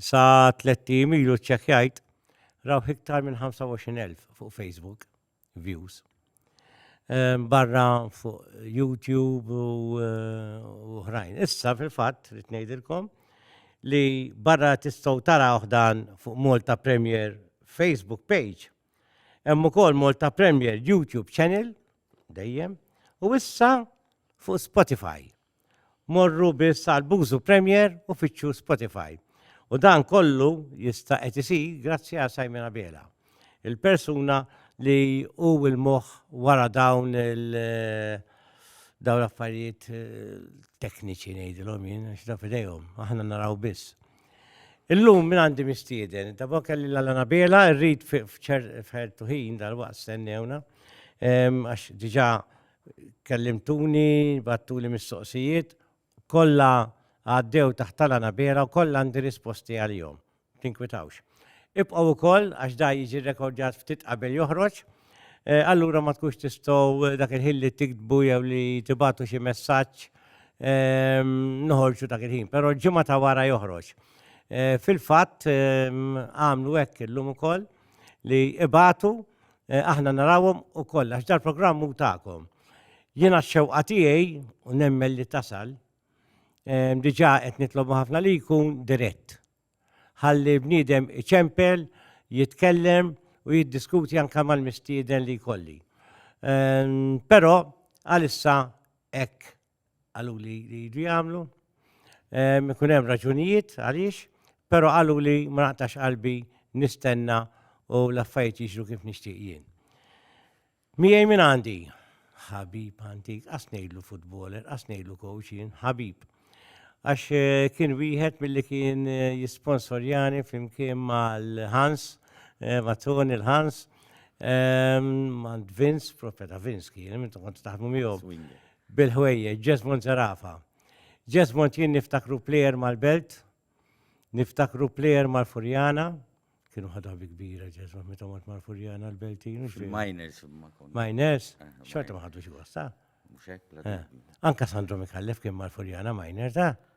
Sa tliet tim ilu ċċekkjajt raw iktar minn 25,000 fuq Facebook views. Ehm, barra fuq YouTube u eh, oħrajn. Issa fil-fatt rrid ngħidilkom li barra tistgħu tara dan fuq Malta Premier Facebook page. Hemm ukoll Malta Premier YouTube channel dejjem u issa fuq Spotify. Morru biss għal Buzu Premier u fittxu Spotify. U dan kollu jista' qed isir grazzi għal Simon Abela, il-persuna li hu l-moħħ wara dawn il- dawn l-affarijiet eh, tekniċi ngħidilhom jien għax da fidejhom, aħna naraw biss. Illum minn għandi mistieden, ta' bok kelli l-Alana Bela, rrid f'ċertu ħin dal-waqt stennewna, em, għax diġà Kellimtuni, battuli mistoqsijiet, kollha għaddew taħt tala nabera u kollha għandi risposti għalihom. Tinkwitawx. Ibqgħu wkoll għax da jiġi rrekordjat ftit qabel joħroġ, eh, allura ma tkunx tistgħu dak il-ħin li tiktbu jew li tibatu xi messaġġ ehm, noħorġu dak il-ħin, però ġimgħa ta' wara joħroġ. Eh, fil-fatt ehm, għamlu hekk illum ukoll li ibatu Eh, aħna narawhom ukoll għax dal-programm hu tagħkom. Jiena x-xewqa tiegħi u nemmel li tasal eh, diġà qed nitlobu ħafna li jkun dirett. Ħalli bniedem iċempel, jitkellem u jiddiskuti anke mal-mistieden li jkolli. Eh, però għalissa hekk Qalu li jridu jagħmlu. Ikun hemm raġunijiet għaliex, però qalu li ma naqtax qalbi nistenna u l-affarijiet jiġru kif nixtieq jien. Miegħi minn għandi, ħabib antik, qas ngħidlu futboler, qas ngħidlu coach jien, ħabib. Għax eh, kien wieħed milli kien eh, jisponsorjani flimkien mal-Hans, eh, ma' Tony l-Hans, ehm, ma' Vince, profeta Vince kien, minn kont taħdmu miegħu. bil-ħwejjeġ, Jesmond Zerafa. Jesmond jien niftakru plejer mal-Belt, niftakru plejer mal-Furjana, kienu ħadu ħabi kbira Jesmond meta mort mal-Furjana l-Beltin. Miners. Miners, eh, xorta ma ħadux gosta. Eh, anka Sandro Mikallef kien mal-Furjana Miners, ta' eh?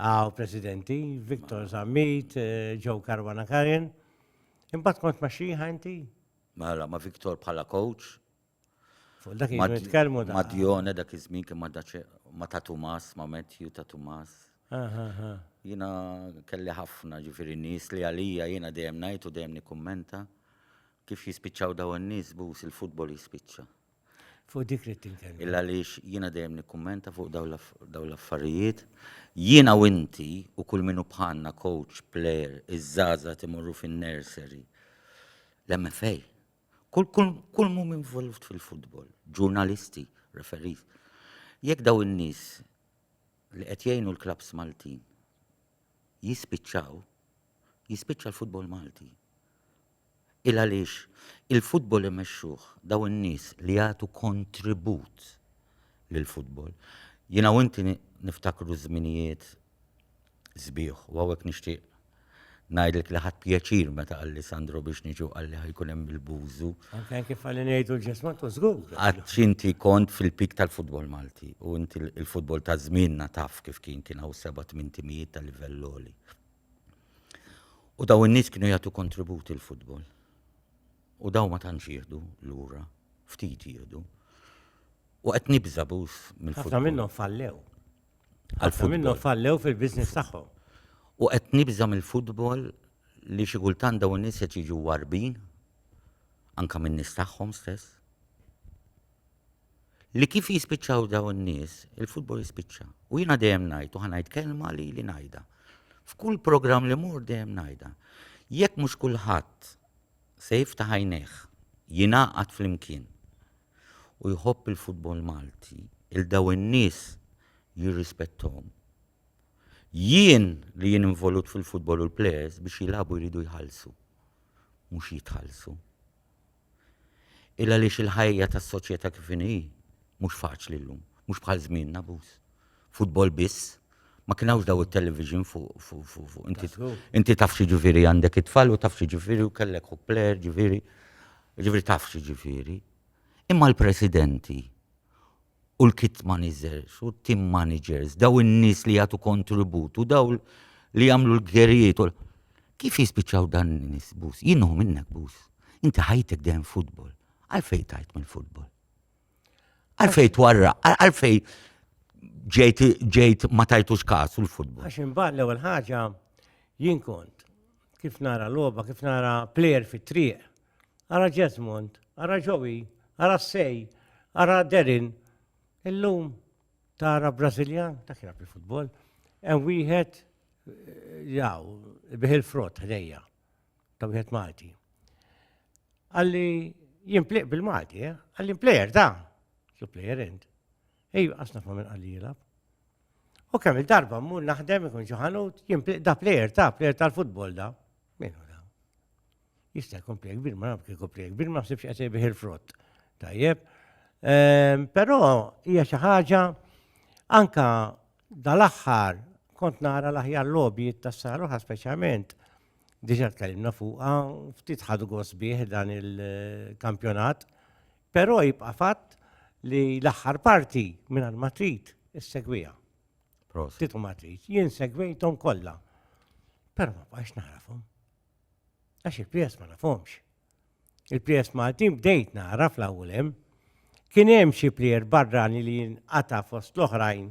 Għaw presidenti, Viktor Zammit, Joe eh, Karwana Karin. Imbat kont ma xieħa inti? Mela, ma Viktor bħala coach. Fuq dak jitkellmu da. Ma Dione dak iż-żmien kien ma ta' Tumas, ma Matthew ta' Tumas. Jina kelli ħafna ġifiri nis li għalija jina dejjem najtu dejjem nikkummenta kif jispiċċaw daw n-nis bus il-futbol jispiċċa. Fuq dik li tinkelli. Illa għaliex jiena dejjem nikkummenta fuq dawn l-affarijiet. Jiena u inti u kull minu bħalna coach, player, iż-żaza timorru fin-nursery. L-MFA. Kull mum involut fil-futbol, ġurnalisti, referees. Jekk daw in-nies li qed jgħinu l-klabs Maltin jispiċċaw, jispiċċa l-futbol Malti. Il għaliex il-futbol imexxuh daw in-nies li jagħtu kontribut lill-futbol. Jiena u inti niftakru żminijiet sbieħ u hawnhekk nixtieq ngħidlek li ħadt pjaċir meta qalli Sandro biex niġi u qalli ħajkun hemm il-bużu. Anke kif qalli ngħidu l-ġesmat u żgur. Għax inti kont fil-pik tal-futbol Malti u inti l-futbol ta' żmienna taf kif kien kien hawn seba' tmien timijiet ta' livell għoli. U daw in-nies kienu jagħtu kontribut il-futbol. U daw ma tantx jieħdu lura, ftit jieħdu. U qed nibża' bus mill-futbol. Ħafna minnhom fallew. Ħafna minnhom fallew fil-business tagħhom. U qed nibża' mill-futbol li xi kultant daw in-nies qed jiġu warbin anke min-nies tagħhom stess. li kif jispiċċaw dawn in-nies, il-futbol jispiċċa. U jiena dejjem ngħid u ħanajt kelma li li ngħidha. F'kull programm li mur dejjem ngħidha. Jekk mhux kulħadd se jiftaħ għajnejh, jingħaqad flimkien u jħobb il-futbol Malti, il daw in-nies jirrispettom. Jien li jien involut fil-futbol u l-plejers biex jilabu jridu jħallsu, mhux jitħallsu. Illa għaliex il-ħajja tas-soċjetà kif inhi mhux faċli llum, mhux bħal żmienna abbuż. Futbol biss, ma kien hawnx daw it-television fuq fuq fuq fuq. Inti Tassew. inti taf xi ġifieri għandek it-tfal u taf xi ġifieri u kellek ħuk plejer ġifieri. Ġifieri taf xi ġifieri. Imma l-presidenti u l-kit managers u team managers, daw in-nies li jagħtu kontribut u daw li jagħmlu l-gerijiet. Kif jispiċċaw dan n-nies bus? Jien minnek bus. Inti ħajtek dejjem futbol. Għalfej tajt mill-futbol. Għalfej twarra, għalfej ġejt ġejt ma tajtux kasu l-futbol. Għax imbagħad l-ewwel ħaġa jien kont kif nara logħba, kif nara plejer fit-triq. ara Jesmond, ara Joey, ara Sej, ara Derin. Illum tara Brażiljan, ta' kien bi futbol, hemm wieħed eh, jaw, bih il-frott ħdejja, ta' wieħed Malti. Għalli jimpliq bil-Malti, eh? għalli player da, su player int. Ej, għasna fa' minn għalli jilab. U kemm il-darba mmur naħdem ikun ġoħanut, jimpliq da player ta' player tal-futbol da. Minu da. Jista' jkun plejk kbir, ma naf kif jkun plejk kbir, ma ħsibx qed jbih il-frott. Tajjeb. Ehm, però hija xi ħaġa anka dal-aħħar kont nara l-aħjar lobby tas-saruħa speċjalment diġà tkellimna fuqha ftit ħadu gost bih dan il-kampjonat, però jibqa' fatt li l-aħħar parti minn ma trid issegwija. Titu ma trid, jien segwejthom kollha. Però ma bqax narafhom. Għax il-prijest ma nafhomx. Il-prijest Maltin bdejt nara fl-ewwel hemm. Kien hemm xi plier barrani li jinqata' fost l-oħrajn.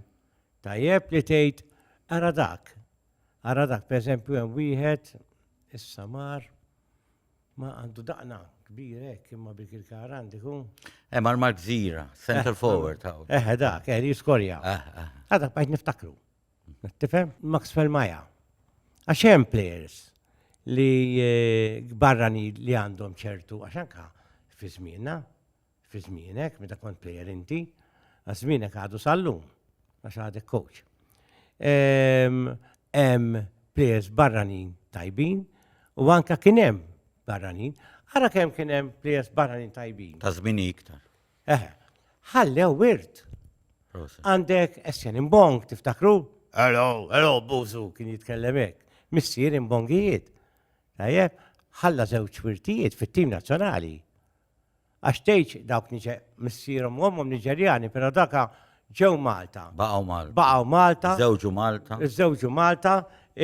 Tajjeb li tgħid ara dak. Ara dak pereżempju hemm wieħed issa mar ma għandu daqna kbir hekk imma bil il-karan diku. Hemm eh, Mark Zira, center eh, forward. Eh, eh dak, eh li jiskorja. Għadak eh, bajt niftakru. Tifhem? Maxwell Maja. Għax hemm players li eh, barrani li għandhom ċertu, għax anka fi żmienna, fi żmienek, meta kont player inti, għax żmienek għadu sallum, għax għadek coach. Ehm, hemm players barranin tajbin u anka kien hemm barranin. Ara kemm kien hemm players barranin tajbin. Ta' żmien iktar. Eħe, ħallew wirt. Għandek Essien Imbong, tiftakru? Hello, hello, Buzu, kien jitkellem hekk. Missier Imbongijiet. Tajjeb, ħalla żewġ wirtijiet fit-tim nazzjonali. Għax tgħidx dawk missierhom u ommhom Niġerjani, però daka ġew Malta. Baqgħu Malta. Baqgħu Malta. Żewġu Malta. Żewġu Malta,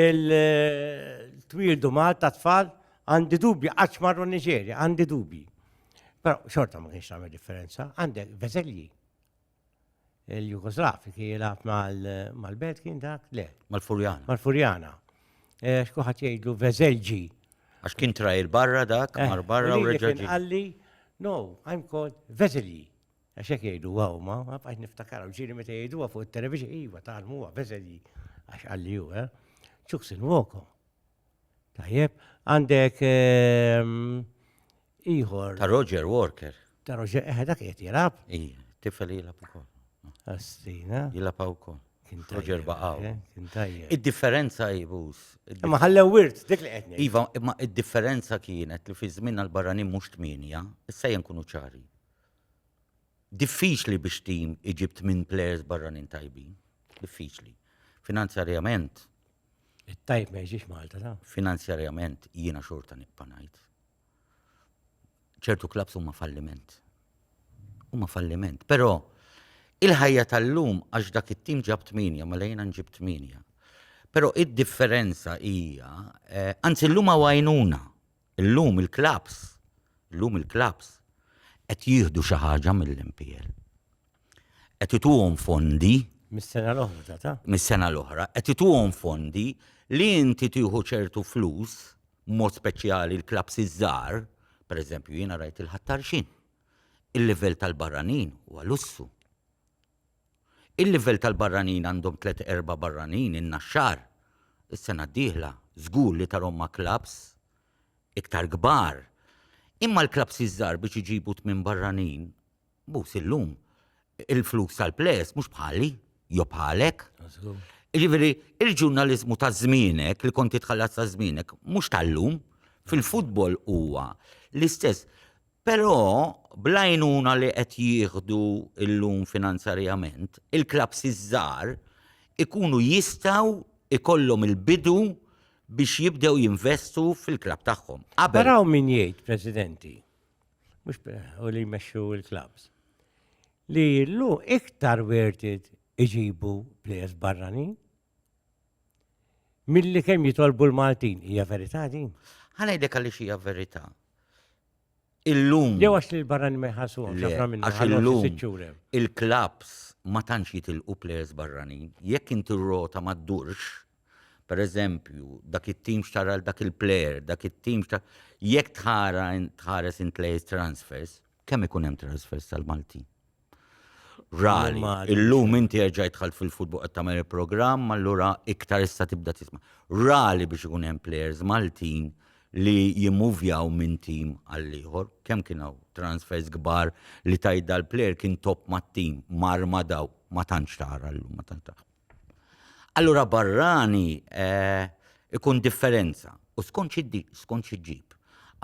il-twildu Malta tfal, għandi dubji qatt marru Niġerja, għandi dubji. Però xorta ma kienx tagħmel differenza, għandek Veselji. Il-Jugoslav kien jilgħab mal-Belt kien dak le. Mal-Furjana. Mal-Furjana. Eh, Xkuħat jgħidlu Veselġi. Għax kien trajr barra dak, eh, mar barra u reġaġi. Għalli, no, I'm called Veselji. Għax jek jgħidu għaw ma, għafqax niftakar, u ġiri meta jgħidu fuq il-televiġi, iva, tal-muwa, Veselji. Għax għalli ju, eh. Ċuksin woko. Tajjeb, għandek ieħor. Ta' Roger Walker. Ta' Roger, eħe dak qed jilab. Ija, tifel jilab ukoll. Astina. Jilab ukoll. Roger baqaw. Eh, kien tajjeb. Id-differenza jibus. Ma ħallew wirt, dik li qed Iva, imma id-differenza kienet li fi żmien għal-barranin mhux tminja, issa jenkunu ċari. Diffiċli biex tim iġib minn players barranin tajbin. Diffiċli. Finanzjarjament, It-tajb ma jiġix Malta ta. Finanzjarjament jiena xorta nibqa' ngħid. ċertu klabs huma falliment. Huma falliment, però il-ħajja tal-lum għax dak it-tim ġab tminja, mela jiena nġib tminja. Però id-differenza hija, eh, anzi llum għajnuna Illum il-klabbs, illum il-klabbs qed jieħdu xi ħaġa mill-MPL. Qed ituhom fondi Mis-sena l-oħra ta' mis-sena l-oħra, qed ituhom fondi li inti tieħu ċertu flus, mod speċjali l-klabbs iż-żgħar, pereżempju jiena rajt il-ħattarxin. Il-livell tal-barranin huwa lussu. Il-livell tal-barranin għandhom tliet erba' barranin in-Naxxar is-sena d-dieħla żgur li tarhom ma' klabbs iktar kbar. Imma l-klabbs iż-żgħar biex iġibu tmien barranin, bus illum il-flus tal-plejers mhux bħali jew bħalek. Jiġifieri l-ġurnaliżmu ta' żmienek, li kont titħallas ta' żmienek, mhux tal-lum. Fil-futbol huwa l-istess. Però, bl-għajnuna li qed jieħdu llum finanzarjament, il-klabbs iż-żgħar ikunu jistgħu jkollhom il-bidu biex jibdew jinvestu fil-klabb tagħhom. Qabel. Però hawn min jgħid, Presidenti, mhux u li jmexxu l-klabbs, li llum iktar werted iġibu plejers barranin Milli kemm jitolbu l-Maltin, hija verità din? Ħanajdek għaliex hija verità. Illum. Jew għax li l-barrani ma jħassu għax illum il-klabs ma tantx jitilqu plejers barranin. Jekk inti rota ma ddurx, per eżempju, dak it-tim xtara dak il-plejer, dak it-tim xtara. Jekk tħares in plejers transfers, kemm ikun hemm transfers tal-Maltin? Rari. Illum inti erġaj dħalt fil-futbol qed tagħmel il-programm, allura iktar issa tibda tisma'. Rari biex ikun hemm players Maltin li jimmuvjaw minn tim għal ieħor, kemm kien hawn transfers kbar li tajt dal-player kien top mat-tim, mar ma daw, ma tantx tara llum, ma tantx tara. Allura barrani ikun differenza u skont xi ddi, skont xi ġġib.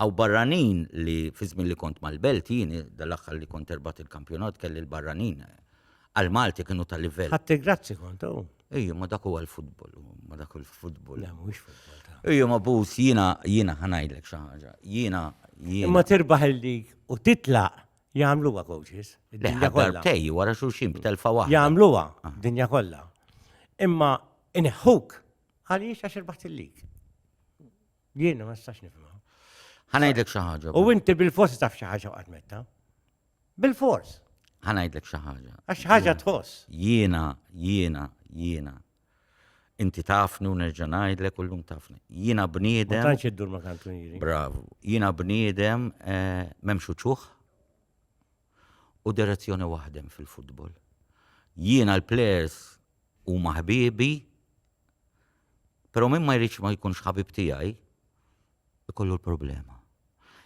Hawn barranin li fi żmien li kont mal-Belt jien dal-aħħar li kont erbaħt il-kampjonat kelli l-barranin għall-Malti kienu ta' livell. Ħadt il-grazzi kont hu. Ejja, imma dak huwa l-futbol, imma dak hu l-futbol. Le, mhuwiex futbol ta'. Ejja, imma Booth jiena, jiena ħa ngħidlek xi ħaġa. Jiena, jiena. Imma tirbaħ il-lig u titlaq Jagħmluha coaches. Id-dinja kollha. Darbtej wara xulxin b'telfa waħda. Jagħmluha dinja kollha. Imma ineħħuk għaliex għax irbaħt il-lig. Jien ma nistax nifhimha. Ħanajdlek xi ħaġa. U inti bil-fors taf xi ħaġa waqgħet metta. Bil-fors. Ħanajdlek xi ħaġa. Għax ħaġa tħoss. Jiena, jiena, jiena Inti tafni u nerġa' ngħidlek u llum tafni. Jiena bniedem. Ma tantx iddur ma' kantunieri. Bravu. Jiena bniedem eh, m'hemmx uċuħ u direzzjoni waħdem fil-futbol. Jiena l-plejers huma ħbiebi, però min ma jridx ma jkunx ħabib tiegħi, ikollu l-problema.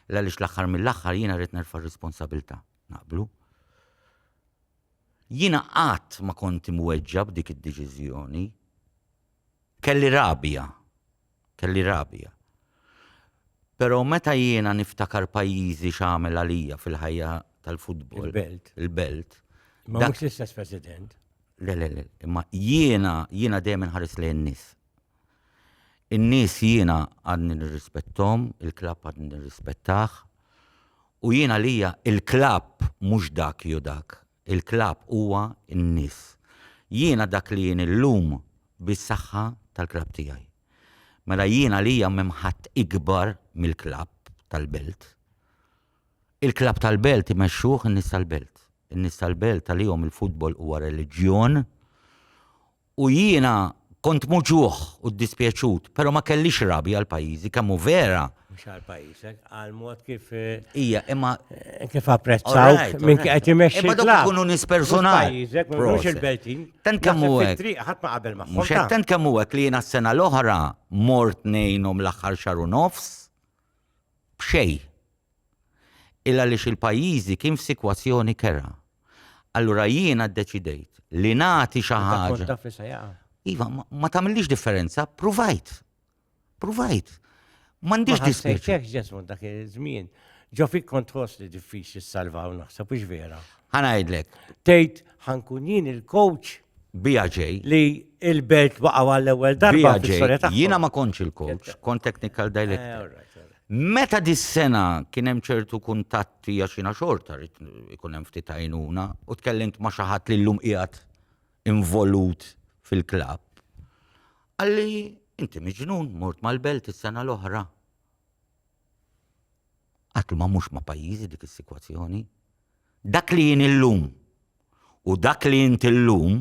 L-għaliex l-aħħar mill-aħħar jiena rrid nerfa' r-responsabilità. Naqblu? Jiena qatt ma kont imweġġa' b'dik id-deċiżjoni. Kelli rabja. Kelli rabja. Però meta jiena niftakar pajjiżi x'għamel għalija fil-ħajja tal-futbol. Il-belt. Il-belt. Ma mhux l-istess President. Le, le, le. Imma jiena, jiena dejjem inħares lejn nies. In-nies jiena għadni nirrispetthom, il-klabb għadni nirrispettah. U jien għalija il-klabb mhux dak jew dak. Il-klabb huwa n-nies. Jiena dak li jien illum bis-saħħa tal-klabb tiegħi. Mela jien għalija m'hemm ħadd ikbar mill-klabb tal-Belt. Il-klabb tal-Belt imexxuh in-nies tal-Belt. In-nies tal-Belt għalihom il-futbol huwa reliġjon U jiena kont muġugħ u ddispjaċut, però ma kellix rabja għal pajjiżi, kemm hu vera. Mhux għal pajjiżek, għal mod kif. Hija, imma. Kif apprezzawk minn kif qed imexxi. Imma dawk ikunu nies personali. Pajjiżek, mhux il-Beltin. Tant kemm hu hekk. Ħadd ma qabel magħhom. Mhux tant kemm hu hekk li jiena s-sena l-oħra mort ngħinhom l-aħħar xahar u nofs. b'xejn. Il għaliex il-pajjiżi kien f'sikwazzjoni kerha. Allura jiena ddeċidejt li nagħti xi ħaġa. Iva, ma tagħmilix differenza, pruvajt. Pruvajt. M'għandix dispjaċi. Ġesmu dak iż-żmien. Ġo fik kont tħoss li diffiċli salvaw naħseb biex vera. Ħanajdlek. Tgħid ħankun jien il-coach Bija ġej. Li il-belt waqgħu għall-ewwel darba fis-sorja tagħhom. Jiena ma kontx il-coach, kont technical director. Eh, Meta dis-sena kien hemm ċertu kuntatti għax jiena xorta rrid ikun hemm ftit għajnuna u tkellimt ma' xi ħadd li llum qiegħed involut fil-klabb. Għalli inti miġnun mort mal-belt is-sena l-oħra. Qatt ma mhux ma' pajjiżi dik is-sikwazzjoni. Dak li jien illum u dak li int illum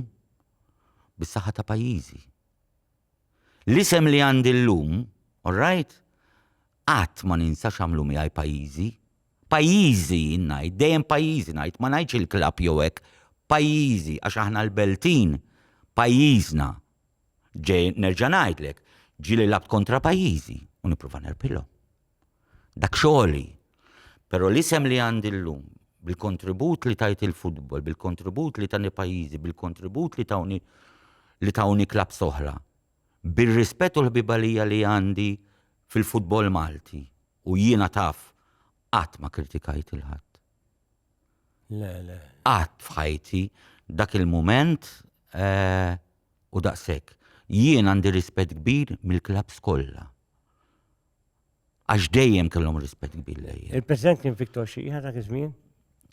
bis-saħħa ta' pajjiżi. L-isem li għandi llum, all right, qatt ma ninsa x'għamlu miegħi pajjiżi. Pajjiżi jien ngħid, dejjem pajjiżi ngħid, ma ngħidx il-klabb jew hekk, pajjiżi għax aħna l-Beltin, pajjiżna. Ġej nerġa' ngħidlek, ġieli lagħbt kontra pajjiżi u nipprova nerbħilhom. Dak xogħli. Però l-isem li għandi llum, bil-kontribut li tajt il-futbol, bil-kontribut li tani pajjiżi, bil-kontribut li tawni li tawni klab soħra, bir-rispett u l-ħbibalija li għandi fil-futbol Malti u jiena taf qatt ma kritikajt il-ħadd. Le, le. Qatt f'ħajti dak il-mument u daqshekk. Jien għandi rispett kbir mill-klabbs kollha. Għax dejjem kellhom rispett kbir lejja. Il-President kien Victor Xieħa dak iż-żmien?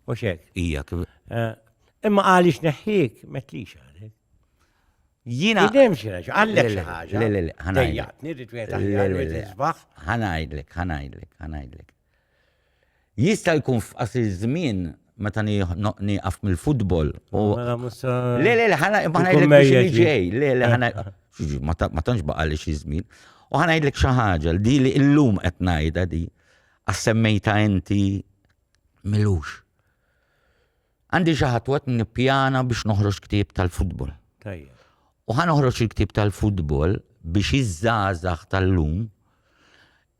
U xek? Ija kif. Eh, imma għaliex neħħik metlix għalek. Jina. Idem xiex, għallek xi ħaġa. Le, le, le, ħanajdlek. Ħanajdlek, ħanajdlek, ħanajdlek. Jista' jkun f'qasir iż-żmien meta nieqaf mill-futbol u. Mela mhux sa. Le, le, le, ħana ngħidlek biex li ġej. Le, le, ħana. Ma tantx baqa' li xi żmien. U ħana ngħidlek xi ħaġa li li illum qed ngħidha di. Għas semmejta inti milux. Għandi xi ħadd waqt nippjana biex noħroġ ktieb tal-futbol. Tajjeb. U ħa noħroġ il-ktieb tal-futbol biex iż-żgħażagħ tal-lum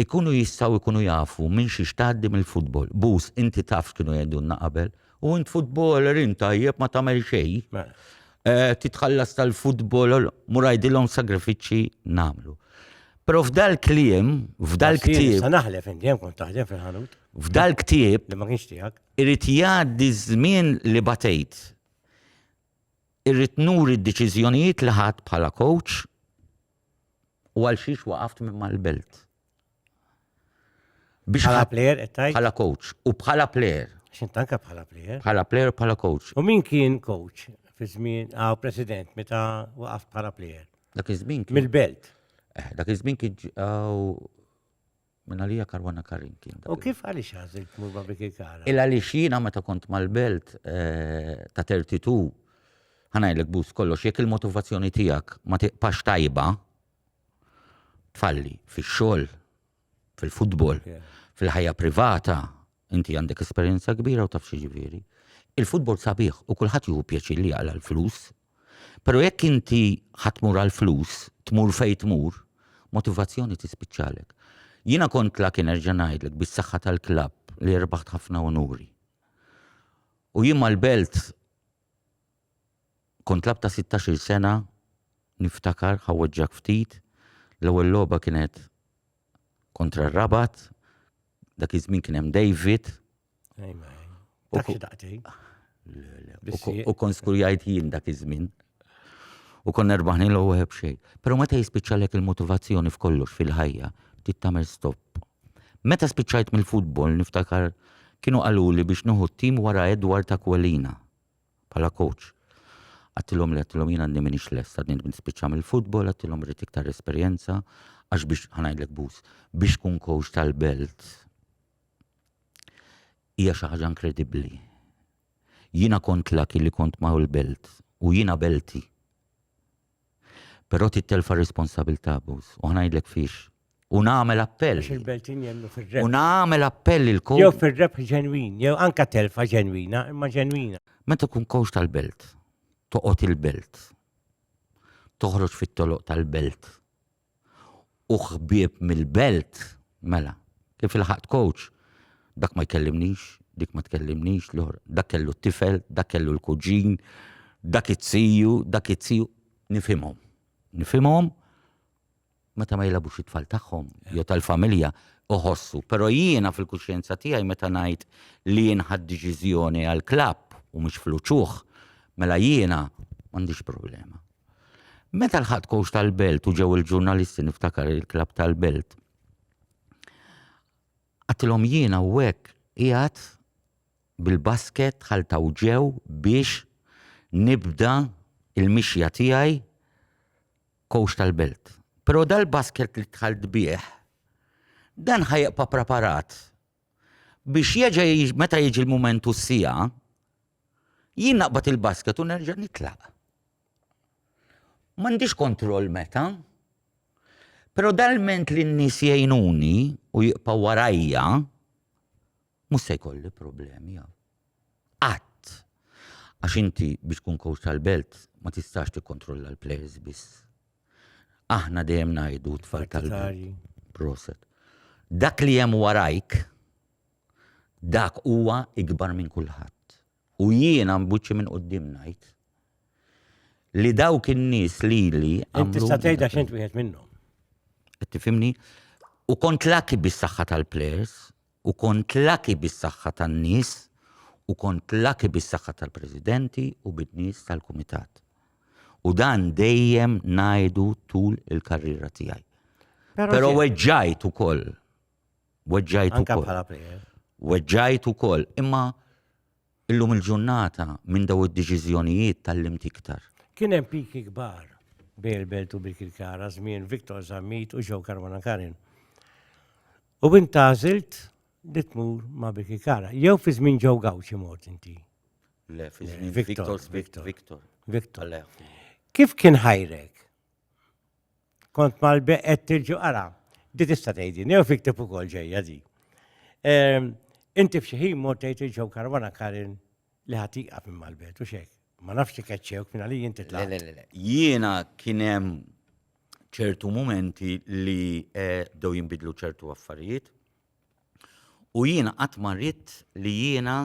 ikunu jistgħu jkunu jafu minn xiex tgħaddi mill-futbol. Bus, inti taf kienu jgħidulna qabel, u int futboler int tajjeb ma tagħmel xejn. Mela. Eh, titħallas tal-futbol, murajdilhom sagrifiċċji nagħmlu. Pero f'dal kliem, f'dal ktib. Sa naħlef inti hemm kont taħdem fil-ħanut. F'dal ktib. Li ma kienx tiegħek. Irid jgħaddi ż-żmien li batejt. Irrid nuri d-deċiżjonijiet li ħadt bħala kowċ u għal xiex waqaft minn mal-belt. Biex bħala plejer qed tgħid? Bħala kowċ u bħala plejer. X'int anke bħala plejer? Bħala plejer u bħala kowċ. U min kien kowċ fi żmien għaw ah, president meta waqaft bħala plejer? Dak iż-żmien kien. Mill-belt. Eh, dak iż-żmien kien Minn għalija Karwana Karin kien. U kif għaliex għażil tmur ma' Biki Kara? Il għaliex jiena meta kont mal-belt eh, ta' 32 ħanajlek bus kollox jekk il-motivazzjoni tiegħek ma tiqpax tajba tfalli fix-xogħol, fil-futbol, fil-ħajja privata, inti għandek esperjenza kbira u taf ġifieri. Il-futbol sabiħ u kulħadd jieħu pjaċir li jaqla l-flus Pero jekk inti ħa tmur għall-flus, tmur fejn tmur, motivazzjoni tispiċċalek. Jiena kont lucky nerġa' ngħidlek bis-saħħa tal-klabb li rbaħt ħafna unuri. U jien mal-Belt kont klabb ta' 16-il sena niftakar ħawweġġak ftit, l-ewwel logħba kienet kontra r-Rabat, Dak iż-żmien kien hemm David. U kon skur jgħid jien dak iż-żmien. U kon nerbaħni l ewwel xejn. Però meta jispiċċalek il-motivazzjoni f'kollox fil-ħajja, trid tagħmel stop. Meta spiċċajt mill-futbol niftakar kienu qaluli biex nieħu t-tim wara Edward Aquilina. bħala coach. Għattilhom li għattilhom jien għadni minix lest, għadni nrid nispiċċa mill-futbol, għattilhom rrid iktar esperjenza, għax biex ħanajdlek bus, biex tkun coach tal-belt hija xi ħaġa inkredibbli. Jiena kont laki li kont ma' l-belt u jiena belti. Però tittelfa r-responsabilità abbuż. U ħnajdlek fiex. U nagħmel appell. Għax il-Beltin jemnu fir-rebħ. U nagħmel appell il Jew fir-rebħ ġenwin, jew anka telfa ġenwina, imma ġenwina. Meta tkun kowx tal-belt, toqgħod il-belt. Toħroġ fit-toloq tal-belt. u ħbieb mill-belt, mela, kif ilħaqt coach? Dak ma jkellimnix, dik ma tkellimnix, l-oħra, dak kellu t-tifel, dak kellu l-kuġin, dak it-tiju, dak it-tiju, nifhimhom. Nifhimhom meta ma jilabux it-tfal tagħhom, jew tal-familja, uħossu. Però jiena fil-kuxjenza tiegħi meta ngħid li jien ħadd deċiżjoni għal klabb u mhux fluċuħ, mela jiena m'għandix problema. Meta l-ħadd kowx tal-belt u ġew il-ġurnalisti niftakar il-klab tal-belt. Għatilhom jiena u hekk qiegħed bil-basket ħaltaw ġew biex nibda il-mixja tiegħi kowx tal-belt. Però dal-basket li tħalt bih, dan ħajqpa preparat biex jeġa meta jiġi l-mument u s-sija, jien naqbad il-basket u nerġa' nitlaq. M'għandix kontroll meta, pero dal-ment li n-nies jgħinuni u jibqa' warajja, mhux se jkolli problemi. Qatt. Għax inti biex tkun coach tal-belt ma tistax tikkontrolla l-players biss. Aħna dejjem ngħidu tfal tal Proset. Dak li hemm warajk, dak huwa ikbar minn kulħadd. U jiena mbuċċi minn qudiem ngħid li dawk in-nies li li. Inti sa tgħidha x'int wieħed minnhom. Tifimni? U kont laki bis-saħħa tal-players U kont lucky bis-saħħa tan-nies u kont lucky bis-saħħa tal-presidenti u bin-nies tal-kumitat. U dan dejjem ngħidu tul il-karriera tiegħi. Però weġġajt ukoll. Weġġajt ukoll. Anke bħala plejer. Weġġajt ukoll, imma Illum il-ġurnata, minn daw id-deċiżjonijiet tgħallimt iktar. Kien hemm piki kbar bejn il-Belt u Birkirkara żmien Victor Zammit u Joe Carbonakarin. U int għażilt li tmur ma' Birkirkara. Jew fi żmien Joe Gawċi mort inti? Le, fi żmien Victor. Victor. Victor. Victor. Kif kien ħajrek? Kont mal-beq qed tirġu ara. Di tista' tgħidin, jew fiktib ukoll ġejja di. Ehm, inti f'xi ħin mort tgħid il-ġew karwana Karin li ħatiqa minn mal-bet u xek. Ma nafx li keċċewk minn għalli jinti tla. Jiena kien hemm ċertu momenti li eh, bdew jinbidlu ċertu affarijiet. U jiena qatt ma ridt li jiena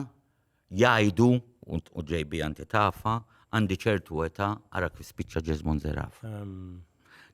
jgħidu, u ġejbi għanti tafa, għandi ċertu età ara kif spiċċa Jesmond Zeraf.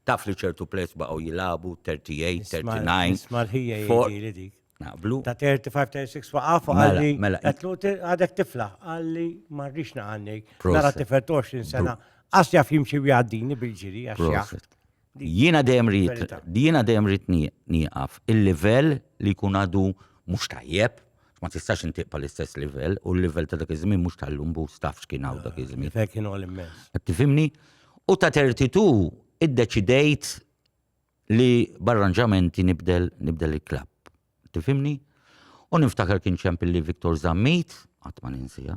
Taf li ċertu plejs baqgħu jilagħbu 38, 39. Isma' l-ħija jgħidili dik. Naqblu. Ta' 35, 36 waqaf mela, għalli. Mela. Għatlu għadek tifla għalli marriċ naqanni. Nara tifel 20 sena. Għas jaf jimxi għaddini bil-ġiri għax Jiena dejjem ridt, jiena dejjem ridt nieqaf. Il-livell li jkun għadu mhux tajjeb, ma tistax intiq pa' l-istess livell, u l-livell ta' dak iż-żmien mhux tal-lum bus taf x'kien hawn dak iż-żmien. L-livell kien għoli mmens. Qed tifhimni? U ta' 32 iddeċidejt li b'arranġamenti nibdel, nibdel il-klabb. Tifhimni? U niftakar kien champion li Victor Zammit, qatt ma ninsiha.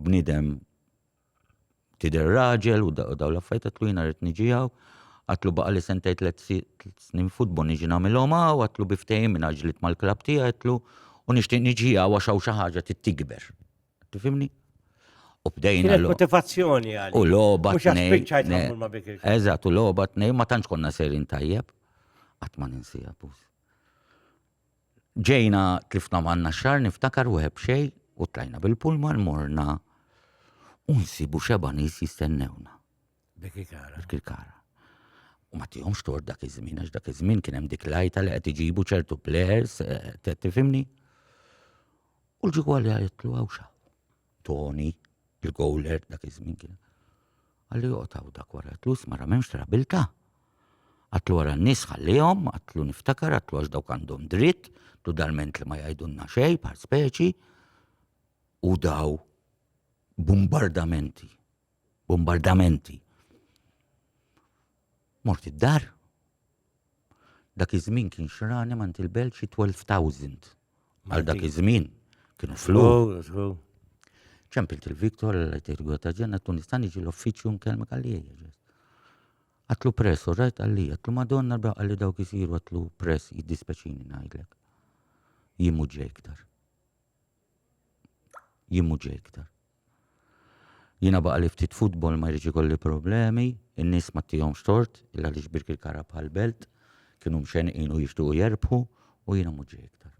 bniedem tidher raġel u daw l-affarijiet għatlu jiena rrid niġi hawn. Għatlu baqa' li sentej tliet snin futbol niġi nagħmilhom hawn, għatlu bi ftehim minn ġlit mal-klabb tiegħi għatlu u nixtieq niġi hawn għax hawn xi ħaġa tikber. Tifhimni? U bdejna. Kienet motivazzjoni għal. U logħba tnejn. Eżatt, u logħba tnejn ma tantx konna serin tajjeb. Qatt ma ninsieha, Ġejna tlifna manna xar niftakar u hebxej u tlajna bil-pulman morna u nsibu xeba nies jistennewna. Dik kara. Dik kara. U ma tihomx tort dak iż-żmien, għax dak iż-żmien kien hemm dik lajta li qed iġibu ċertu plers, eh, tifimni? U l-ġigwa li għajtlu għawxa. Tony, il-gowler dak iż-żmien kien. Għalli joqtaw dak wara għatlu smara m'hemmx trabilta. Għatlu wara n-nies ħallihom, għatlu niftakar, għatlu għax dawk għandhom dritt, tu dalment li ma jgħidulna xej par speċi. U daw bombardamenti, bombardamenti. Mort id-dar, Dak iż-żmien kien xrani mant il-belt xi 12,000 għal dak iż-żmien. Kienu flus. ċempilt il-Viktor l-etergu ta' ġenna tu nista' niġi l-uffiċċju nkellmek għalija ġest. Għatlu press, u rajt għalija, għatlu madonna bra għalli dawk isiru għatlu press jiddispeċini ngħidlek. Jimu ġejktar. Jien mhux ġej iktar. Jiena baqa' li ftit futbol ma jridx ikolli problemi, in-nies ma ttihomx tort il għaliex Birkirkara bħal belt kienu mxenqin u jixtiequ jerbħu u jiena mhux ġej iktar.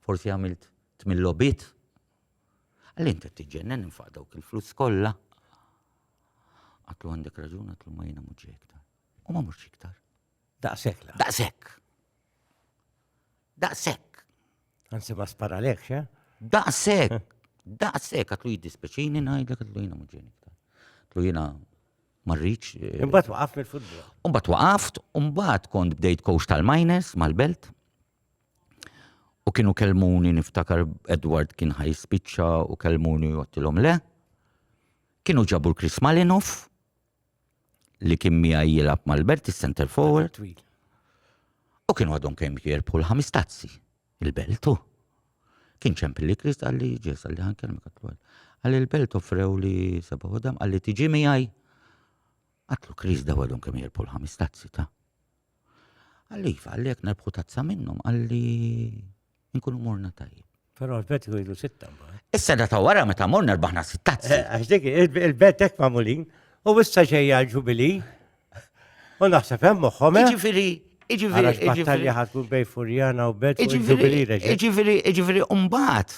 Forsi għamilt tmien logħbiet? Għalli inti qed tiġġennen infaq dawk il-flus kollha. Għatlu għandek raġun għatlu ma jiena mhux ġej iktar. U ma mhux iktar. Daqshekk la. Daqshekk. Daqshekk. Anzi ma sparalekx, eh? Daqshekk. Daqshekk għatlu jiddispeċini ngħidlek għatlu jiena muġġeni. Għatlu jiena marriċ. Eh, imbagħad waqaf mill-futbol. Imbagħad waqaft, imbagħad kont bdejt coach tal-miners mal-belt. U kienu kelmuni niftakar Edward kien ħaj spiċċa u kelmuni jottilhom le. Kienu ġabu l-Chris Malinov li kien miegħi jilgħab mal-Belt is-center forward. U kienu għadhom kemm jirbħu l-ħames tazzi il-Beltu. Kien ċempil li Krist għalli ġes għalli ħan kelmek għatlu għalli il-Belt offrew li seba għodam għalli tiġi miegħi. Għatlu Krist daw għadhom kemm jirbħu l-ħames tazzi ta' Għalli, għalli jek nerbħu tazza minnum, għalli nkunu morna tajjeb. Pero l-bet jgħidu sitta. Issa da ta' wara meta morna rbaħna sitta. Eh, għax dik il-bet ek mamulin, u issa ġejja ġubili, u naħseb hemm moħħom. Eh? Ġifiri, ġifiri. Battalja ħatkun bej Furjana u bet ġubili reġa. Ġifiri, ġifiri, umbat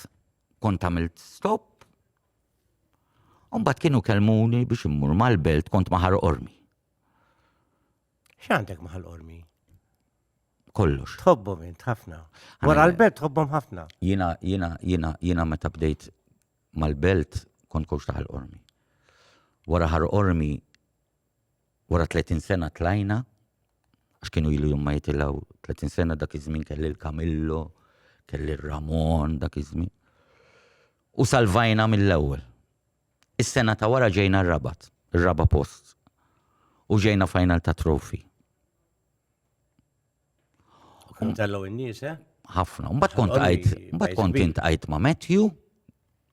kont għamilt stop. Umbat kienu kelmuni biex immur mal-belt kont maħar ormi. X'għandek ma' ħal-qormi? kollox. Tħobbhom int ħafna. Wara l-belt tħobbhom ħafna. Jina, jina, jina, jina meta bdejt mal-belt kont kux taħal ormi. Wara ħar ormi, wara 30 sena tlajna, għax kienu ilu jumma jitilaw 30 sena dak iż-żmien kelli l-Kamillo, kelli l-Ramon dak iż-żmien. U salvajna mill-ewwel. Is-sena ta' wara ġejna r-Rabat, ir-raba' post, u ġejna final ta' Trophy. Kont tellu n-nies, eh? Ħafna. Mbagħad kont għajt, mbagħad kont int għajt ma' Matthew,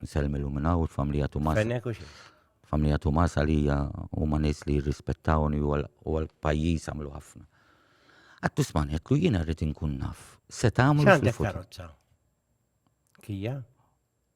nselmilu minn hawn il-familja Tumas. Fennek u xi? Familja Tumas għalija huma nies li jirrispettawni u għall-pajjiż għamlu ħafna. Għattu sman, jekk jiena rrid inkun naf, se tagħmlu fil-futur. Kija?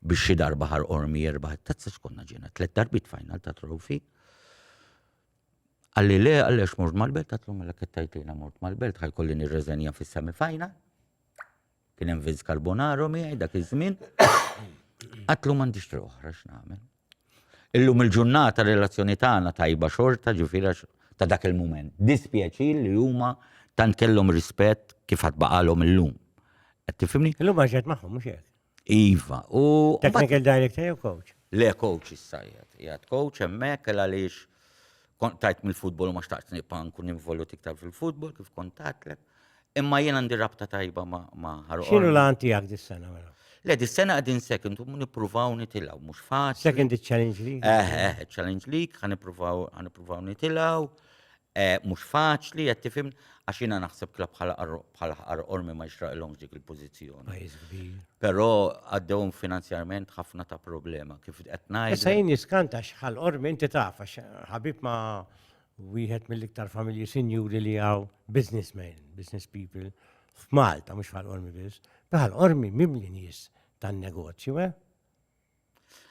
biex xi darba ħar ormi jirbaħ it-tazza xkonna ġiena tliet darbit final ta' trofi. Għalli le, għalli għax mort mal-belt, għatlu mela kettajt li mort mal-belt, ħajkolli nirreżenja fis-semi final. Kien hemm Vince Carbonaro miegħi dak iż-żmien. Għatlu m'għandix triq oħra x'nagħmel. Illum il-ġurnata relazzjoni tagħna tajba xorta ġifiera ta' dak il-mument. Dispjaċir li huma tant kellhom rispett kif għad baqalhom illum. Qed tifhimni? Illum għaxet magħhom mhux hekk. Iva, u. Technical director jew coach? Le coach issa jgħat. Jgħat coach hemmhekk għal għaliex kont tajt mill-futbol u ma xtaqt nibqa' nkun involut iktar fil-futbol kif kont tatlek. Imma jien għandi rabta tajba ma' ħarqu. X'inhu l-għan tiegħek dis-sena mela? Le, dis-sena qegħdin second, u nippruvaw nitilgħu, mhux faċli. Second challenge league? Eh, eh, challenge league, ħan nippruvaw nitilgħu. Eh, mhux faċli, qed tifhem, għax jiena naħseb klabb bħal ħaqar ormi ma jixraqilhomx dik il-pożizzjoni. Pajjiż kbir. Però għaddewhom finanzjarment ħafna ta' problema kif qed ngħid. Issa jien jiskanta xħal ormi inti taf għax ħabib ma' wieħed mill-iktar familji sinjuri li hawn businessmen, business people f'Malta mhux bħal ormi biss. Bħal ormi mimli nies tan-negozju, eh?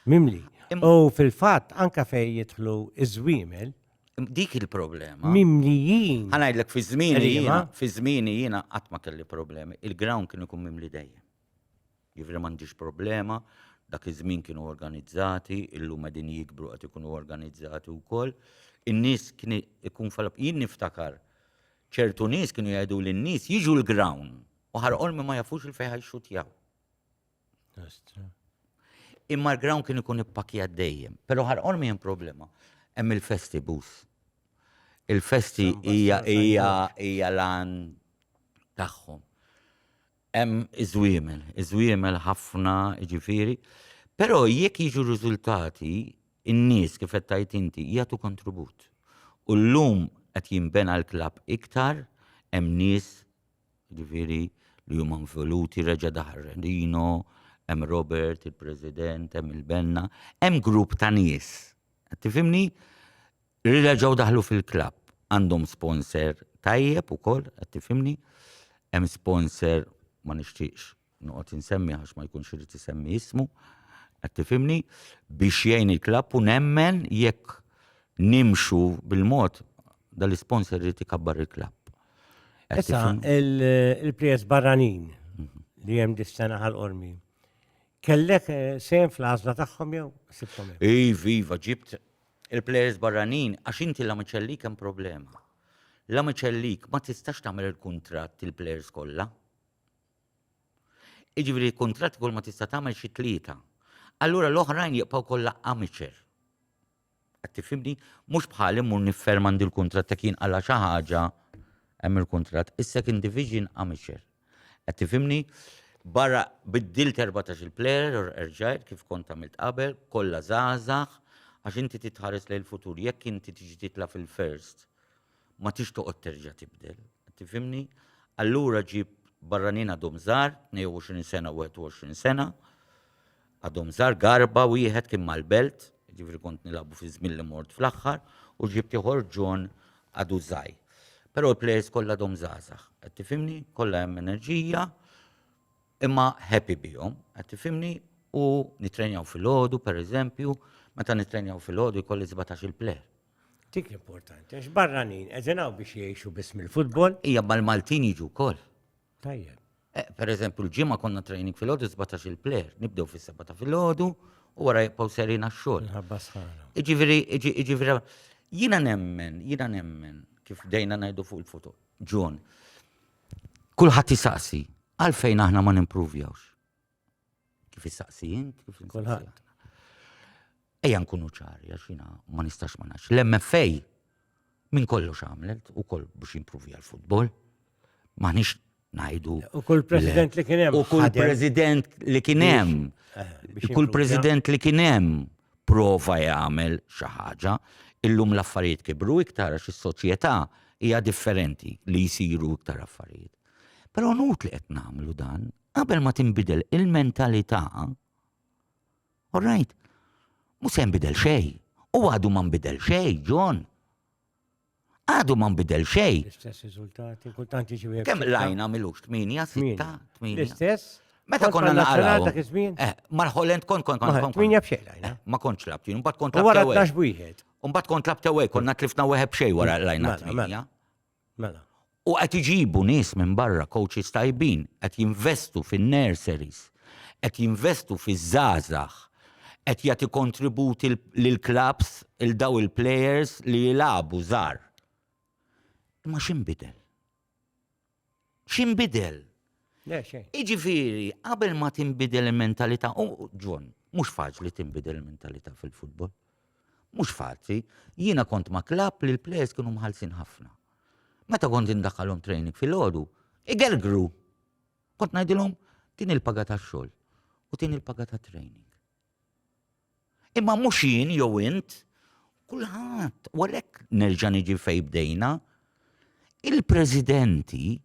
Mimli. U fil-fatt anka fejn jidħlu iż-żwiemel. Dik il-problema. Mimlijin. Ħanajdlek fi żmieni jiena, fi żmieni jiena qatt ma kelli problemi. Il-ground kien ikun mimli dejjem. Jivri m'għandix problema, dak iż-żmien kienu organizzati, illum qegħdin jikbru qed ikunu organizzati wkoll. In-nies kien ikun falab jien niftakar ċertu nies kienu jgħidu lin-nies jiġu l-ground u ħarqol ma jafux il-fejħa jxutjaw. Imma l-ground kien ikun ippakjat dejjem. Pero ħarqor mi problema. Hemm il-festi bus. Il-festi hija hija hija lan tagħhom. Hemm iżwiemel, iżwiemel ħafna ġifiri. Pero jekk jiġu riżultati, in-nies kif qed tajt inti jagħtu kontribut. U llum qed jinbena l-klabb iktar, hemm nies Jiġifieri li huma involuti reġa' daħal Rino, hemm Robert, il-President, hemm il-Benna, hemm grupp ta' nies. Qed tifhimni? Li reġgħu daħlu fil-klabb. Għandhom sponsor tajjeb ukoll, qed tifhimni? Hemm sponsor ma nixtieqx noqgħod insemmi għax ma jkunx irid isemmi ismu, qed tifhimni, biex jgħin il-klabb u nemmen jekk nimxu bil-mod dal-isponsor irid ikabbar il-klabb. Issa, il-prijez barranin mhm. li hemm dis-sena ħal-qormi. Kellek eh, sejn fl-għażla tagħhom jew sibkom? Iv, iva, ġibt il-plejers barranin għax inti la miċelli kemm problema la miċellik ma tistax tagħmel il-kuntratt il-players kollha. Jiġifieri kuntratt kull ma tista' tagħmel xi tlieta. Allura l-oħrajn jibqgħu kollha amateur. Qed tifhimni? Mhux bħal immur nifferma għandi l-kuntratt ta' kien għala xi ħaġa hemm il-kuntratt, is-second division amateur. Qed tifhimni? Barra biddilt 14 il-player, erġajt kif kont għamilt qabel, kollha żgħażagħ, għax inti titħares lejn il-futur, jekk inti tiġi titla' fil-first Ma tridx toqgħod terġa' tibdel. Tifhimni? Allura ġib barranin għadhom żgħar, 22 sena u 21 sena, għadhom żgħar garba wieħed kien mal-belt, ġifieri kont nilagħbu fi żmien li mort fl-aħħar, u ġibt ieħor John għadu żgħir. Però l-plejers kollha għadhom żgħażagħ, qed tifhimni? Kollha hemm enerġija, imma happy bihom, qed tifhimni? U nitrenjaw filgħodu, pereżempju, meta nitrenjaw filgħodu jkolli 17-il plejer. Dik l-importanti, għax barranin, eżenaw biex jiexu biss mill-futbol. Ija mal-Maltin jiġu kol. Tajjeb. Eh, per eżempju, l-ġimma konna training fil-ħodu 17 il-player, nibdew fil-seba ta' fil-ħodu u għara jibqaw serina xol. Iġiviri, iġiviri, jina nemmen, jina nemmen, kif dejna najdu fuq il-foto, ġon, kullħat jisaqsi, għalfejn aħna ma nimpruvjawx. Kif issaqsi int, kif kulħadd. Ejja nkunu ċari għax jiena ma nistax ma nafx. L-MFA minn kollox għamlet ukoll biex jimpruvi għall-futbol. Maħniex ngħidu. U kull president li kien hemm. U kull president li kien hemm. Eh, kull president li kien hemm prova jagħmel xi ħaġa. Illum l-affarijiet kibru iktar għax is-soċjetà hija differenti li jsiru iktar affarijiet. Però nut li qed nagħmlu dan Qabel ma tinbidel il-mentalità, all right, mhux se jinbidel xejn. U għadu ma nbidel xejn, John. Għadu ma nbidel xejn. L-istess riżultati, kultant jiġi Kemm lajna milux 8, 6, 8. L-istess? Meta konna naqraw. Eh, Mal-Holland kont kont kont kont. Minja bxejn lajna. Eh, ma kontx labt, jien mbagħad kont labt. Wara tax wieħed. Mbagħad kont labt ewwej, konna tlifna wieħed bxej wara lajna. Mela. U qed iġibu nies minn barra, coaches tajbin, qed jinvestu fin-nurseries, qed jinvestu fiż-żgħażagħ, qed jagħti kontribut lill-klabbs, lil dawn il-plejers li jilagħbu żgħar. Imma x'inbidel? x'inbidel? Le xejn. Iġifieri, qabel ma tinbidel il-mentalità, u Ġon, mhux faċli tinbidel il-mentalità fil-futbol. Mhux faċli. Jiena kont ma' klapp li l-plejers kienu mħallsin ħafna. Meta kont indaħħalhom training fil-ħodu, igergru. Kont ngħidilhom din il-paga tax-xogħol u din il-paga ta' training. Imma mhux jien jew int, kulħadd, u għalhekk nerġa' niġi fejn bdejna, il-presidenti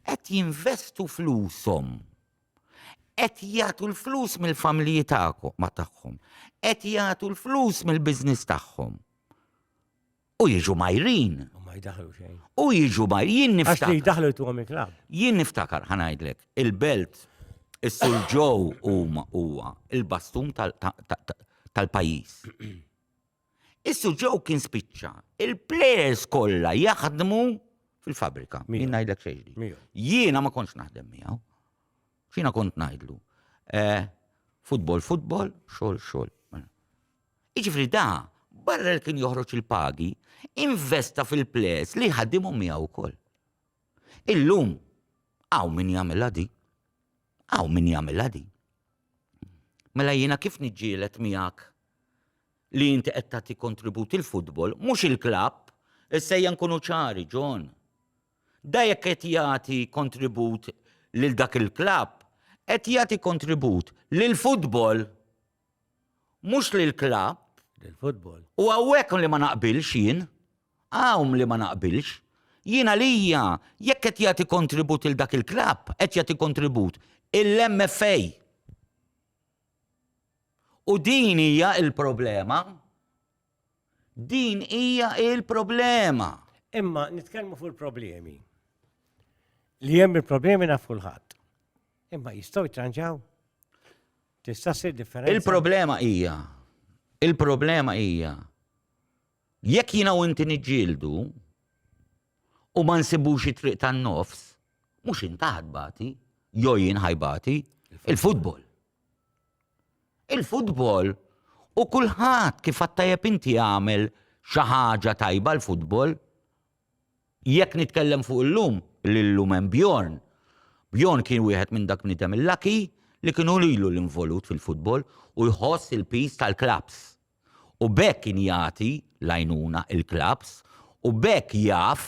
qed jinvestu flushom, qed jagħtu l-flus mill-familji tagħhom, qed jagħtu l-flus mill-business tagħhom. U jiġu majrin. U ma jdaħlu xejn. U jiġu majrin. Jien niftakar. Għax li jdaħlu jtu għamil klab. Jien niftakar, ħanajdlek, il-belt, il-sul ġow huma huwa il-bastun tal-pajis. Issu ġew kien spiċċa. Il-players kollha jaħdmu fil-fabrika. Jien ngħidlek xejn. Jiena ma kontx naħdem miegħu. Xina kont ngħidlu. Eh, futbol, futbol, xogħol, xogħol. Jiġifieri da, barra li kien joħroġ il-pagi, investa fil-plejers li jħaddimhom miegħu wkoll. Illum hawn min jagħmilha di. Hawn min jagħmilha di. Mela jiena kif niġġieled miegħek li inti qed tagħti kontribut il-futbol, mhux il-klabb, issejja nkunu ċari, John. Da jekk qed jagħti kontribut lil dak il-klabb, qed jagħti kontribut lil futbol. Mhux lill-klabb. Lill-futbol. U hawnhekk li ma naqbilx jien. Hawn li ma naqbilx. Jien għalija jekk qed jagħti kontribut lil dak il-klabb, qed jagħti kontribut il-MFA. U din hija l-problema. Din hija il-problema. Imma nitkellmu fuq il-problemi. Li hemm il-problemi naf kulħadd. Imma jistgħu jtranġaw? Tista' ssir differenza? Il-problema hija il-problema hija jekk jiena u inti niġġieldu u ma nsibux it-triq tan-nofs, mhux intaħad bati, jew jien ħajbati, il-futbol. Il-futbol u kulħadd kif għad tajjeb inti għamel xi ħaġa tajba l-futbol. Jekk nitkellem fuq illum, li llum hemm Bjorn. Bjorn kien wieħed minn dak bniedem il-laki li kienu lilu l-involut fil-futbol u jħoss il-piż tal-klabbs. u b'hekk kien jagħti l-għajnuna il-klabbs u b'hekk jaf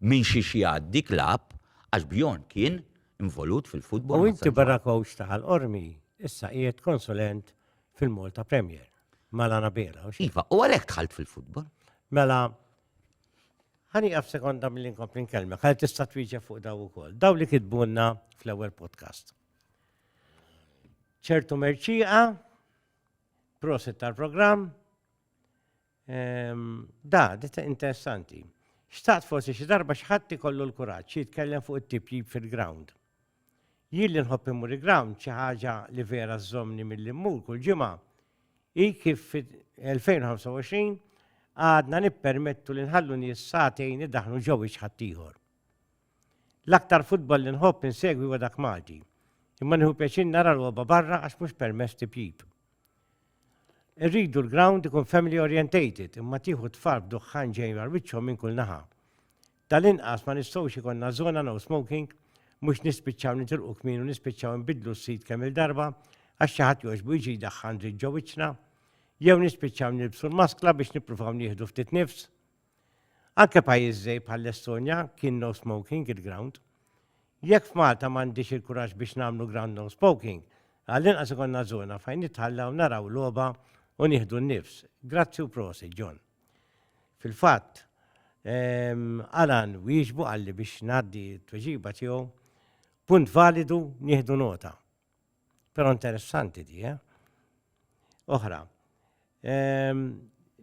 minn xiex jgħaddi klabb għax Bjorn kien involut fil-futbol Nazzonali. U inti barra kowċ ta' Ħal Qormi, issa qiegħed konsulent fil-Malta Premier mal-Anabela. Iva, u għalhekk dħalt fil-futbol. Mela, ħani għaf sekonda mill-li nkompli nkellmek, ħal tista' twieġeb fuq daw ukoll. Daw li kitbunna fl-ewwel podcast. ċertu merċiqa Proset tal-programm. Ehm, da, dita interessanti. Xtaqt forsi xi darba xħatt ikollu l-kuraġġ jitkellem fuq it-tipjib fil-ground. Jien li nħobb immur il-ground xi ħaġa li vera żomni mill immur kull ġimgħa hi kif fil-2025 għadna nippermettu li nħallu nies sagħtejn idaħnu ġew ieħor. L-aktar futbol li nħobb insegwi huwa dak Malti, imma nieħu pjaċir nara logħba barra għax mhux permess tipjip. Irridu l-ground ikun family orientated imma tieħu tfal b'duħħan ġejn għal wiċċhom minn kull naħa. Tal-inqas ma nistgħux ikonna żona no smoking, mhux nispiċċaw nitilqu kmin u nispiċċaw nbidlu s-sid kemm il-darba għax xi ħadd jogħġbu jiġi jdaħħan dritt ġo wiċċna, jew nispiċċaw nilbsu l-maskla biex nippruvaw nieħdu ftit nifs. Anke pajjiż żgħir bħall-Estonja kien no smoking il-ground. Jekk f'Malta m'għandix il-kuraġġ biex nagħmlu ground no spoking, għall-inqas ikollna żona fejn nitħallaw naraw logħba u nieħdu n-nifs. Grazzi u prosit, John. Fil-fatt, ehm, Alan wieġbu qalli biex ngħaddi t-tweġiba tiegħu. Punt validu, nieħdu nota. Pero interessanti di, eh? Oħra. Ehm,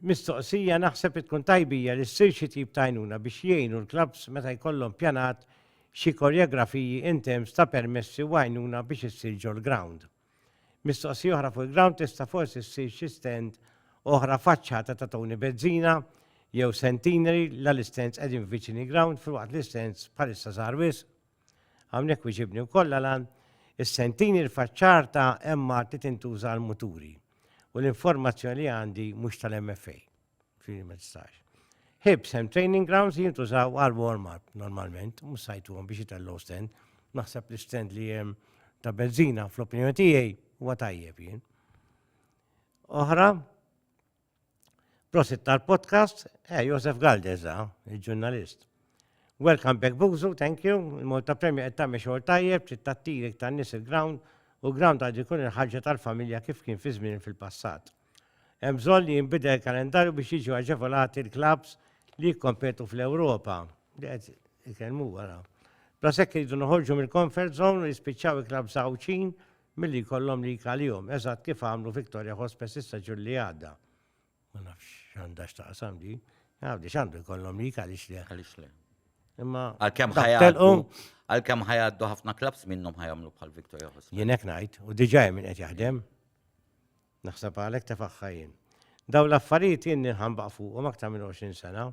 mistoqsija naħseb tkun tajbija li ssir xi tip tajnuna biex jgħinu l-klabs meta jkollhom pjanat xi koreografiji in terms ta' permessi u għajnuna biex issir ġol ground. Mistoqsija oħra fuq il-ground tista' forsi ssir xi stand oħra faċċata ta' Tony Bezzina jew Centenary la l-istens qegħdin viċini ground fil-waqt l-istens bħalissa żgħar wisq. Hawnhekk wiġibni wkoll għalan is-sentini l-faċċar ta' emma ti tintuża għal muturi u l-informazzjoni li għandi mhux tal-MFA. Fini ma tistax. Hibs hemm training grounds li jintużaw għal warm-up normalment, mhux sajtuhom biex jitellu stand. Naħseb li stand li hemm ta' benzina fl-opinjoni tiegħi huwa tajjeb jien. Oħra, Prosit tal-podcast, eh, Josef Galdez, ah, il-ġurnalist. Welcome back Buzu, thank you. Il-Malta Premja qed tagħmel xogħol tajjeb, trid tattiri iktar nies il-ground u ground għad ikun il-ħarġa tal-familja kif kien fi żmien fil-passat. Hemm bżonn li jinbidel il-kalendarju biex jiġu aġevolati l-klabs li jikkompetu fl-Ewropa. Li qed ikellmu wara. Bla sekk iridu noħorġu mill-comfort zone u jispiċċaw il-klabs għawċin Milli jkollhom lik għalihom, eżatt kif għamlu Victoria Hospes is-seġun li għadda. Ma nafx x'għandha x'taqsam di. Għawdi x'għandu jkollhom lik għaliex le. Għaliex le. Imma għalkemm ħajgħaddu għalkemm ħajgħaddu ħafna klabs minnhom ħajamlu bħal Victoria Hospes. Jien hekk ngħid, u diġà hemm min qed jaħdem. Naħseb għalhekk tefagħha jien. Dawn l-affarijiet jien ninħanbaq fuqhom aktar minn 20 sena.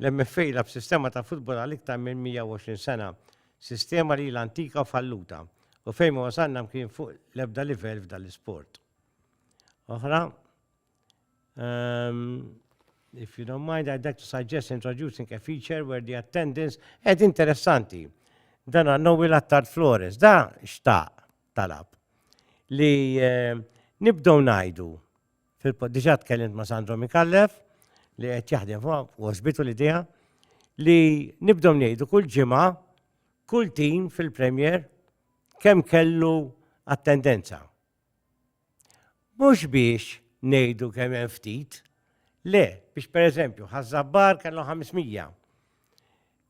L-MFA jilgħab b'sistema ta' futbol għal iktar minn 120 sena, sistema li ilha antika u falluta, u fejn ma wasalna mkien fuq l-ebda livell f'dan l-isport. Oħra, ehm, if you don't mind, I'd like to suggest introducing a feature where the attendance, ed interessanti, dan għannowi l-attar Flores, da xtaq, talab li eh, nibdow najdu diġa tkellimt ma' Sandro Mikallef li qed jaħdem fuq ospitu li diha li nibdow ngħidu kull ġimgħa kull tim fil-Premier kemm kellu attendenza. Mhux biex ngħidu kemm hemm ftit, le, biex pereżempju ħaż-Żabbar kellhom 500,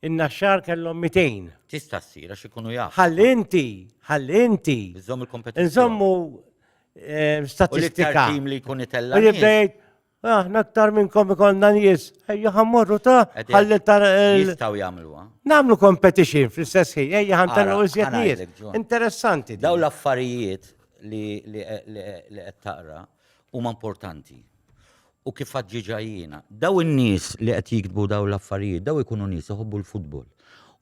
in-Naxxar kellhom 200. Tista' ssir għax ikunu jafu. Ħalli inti, ħalli inti. Iżomm il-kompetizzjoni. Nżommu eh, statistika. Tim li jkun itella. Aħna aktar minnkom ikollna nies, ejja ħammorru ta' ħalli ta' eh, jistgħu jagħmluha. Nagħmlu competition fl-istess ħin, ejja ħantellu iżjed nies. Interessanti. Daw l-affarijiet li qed taqra huma importanti. U kif ġiġa jiena, daw in-nies li qed jiktbu daw l-affarijiet, daw ikunu nies iħobbu l-futbol.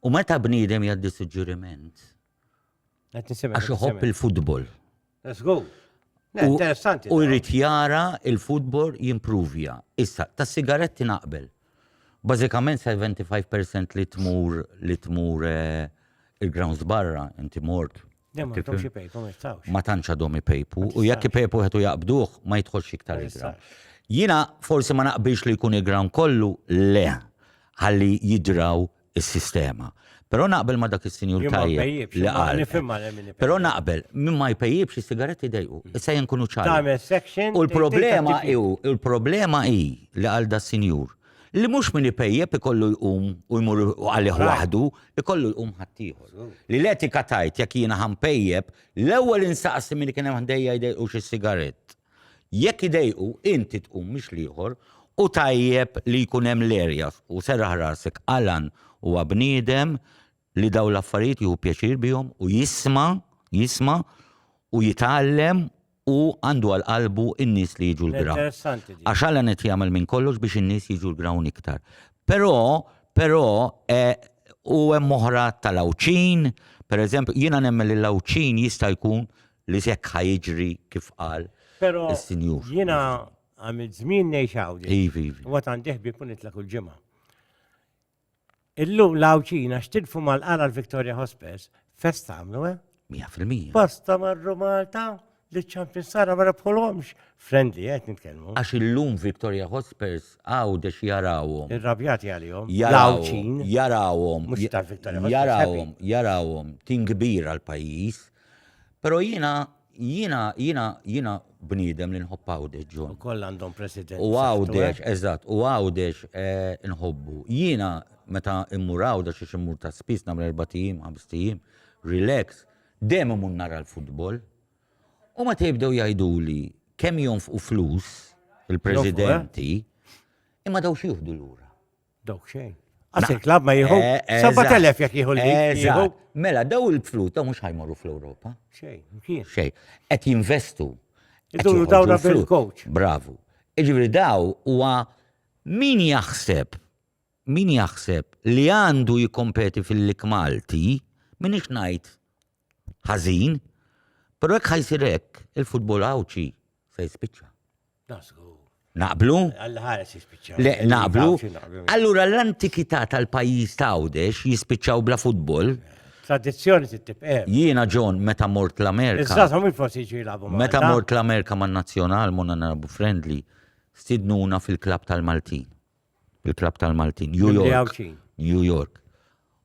U meta bniedem jgħaddi suġġeriment, Għax iħobb il-futbol. Let's go. Interessanti. U jrid jara il-futbol jimprovja. Issa, ta' sigaretti naqbel. Bażikament 75% li tmur li tmur eh, il-grounds barra, inti mort. Ma tantx għadhom ipejpu u jekk ipejpu qed jaqbduh ma jidħolx iktar il-ground. Jina forsi ma naqbilx li jkun il-ground kollu le ħalli jidraw is-sistema. Però naqbel ma dak is-sinjur tajjeb li qal. Però naqbel, min ma jpejjibx is-sigaretti dejqu. Mm. Issa jien kunu ċar. U l-problema hi, il-problema hi li għal da sinjur li mhux min ipejjeb ikollu jqum u jmur għalih waħdu, ikollu jqum ħaddieħor. Li l-etika tajt jekk jiena ħampejjeb, l-ewwel insaqsi min kien hemm ħdejja jdejqux is-sigarett. Jekk idejqu, inti tqum mhix l-ieħor, u tajjeb li jkun hemm l-erjas, u serraħ rasek, Alan huwa bniedem li dawn l-affarijiet jieħu pjaċir bihom u jisma', jisma', u jitgħallem u għandu għal qalbu n-nies li jiġu l-gra. Interessanti din. Għax Alan qed jagħmel minn kollox biex in-nies jiġu l-grawn iktar. Però, però, eh, u hemm oħra tal-Għawdxin, pereżempju, jiena nemmen li l-Għawdxin jista' jkun li hekk ħa jiġri kif qal Pero is-sinjur. jiena għamil żmien ngħix hawn. Ivi, ivi. U għad għandi ħbieb u nitlaq kull ġimgħa. Illum l-Għawdxina xtilfu mal-qara l-Victoria Hospes, fest għamlu, eh? 100%. Pasta marru Malta li ċampin sara ma rebħulhomx. Friendly, eh, qed nitkellmu. Għax illum Victoria Hospers għawdex jarawhom. Irrabjati għalihom. Jarawhom, L-Għawdxin. jarawhom, Mhux tal-Victoria Hospers, jarawhom, jarawhom, tin kbira l-pajjiż, Pero jiena, jiena, jiena, jiena bniedem li nħobb għawdex, John. U koll għandhom president. U għawdex, eh? eżatt, u għawdex eh, nħobbu. Jiena, meta immur għawdex, xiex immur ta' spis, namra erbatijim, għamstijim, relax, dem immur nara l-futbol. U meta jibdew jajdu li kem jonf u flus, il-presidenti, eh? imma daw xieħdu l-ura. Dawk xejn. Għaxin klab ma jieħu. 7.000 eh, jek jieħu l-jieħu. Mela, daw il-flus ta' mux ħajmorru fl-Europa. Xej, kien. Xej. Et jinvestu. Iżuru dawra bil-coach. Bravu. Iġviri daw huwa min jaħseb, min jaħseb li għandu jikompeti fil-lik Malti, min iċnajt ħazin, pero jek ħajsirek il-futbol għawċi se jispiċċa. Naqblu? Le, naqblu. Allura l-antikità tal-pajjiż ta' Għawdex jispiċċaw bla futbol. Tradizzjoni tibqem. Eh. Jiena John meta mort l-Amerika. Iżżażhom minn forsi jiġu jilagħbu Meta mort l-Amerika man-Nazzjonal monna narabu friendly, stidnuna fil-klab tal-Maltin. il-Klabb tal-Maltin, New Mimli York. Għawdxin. New York.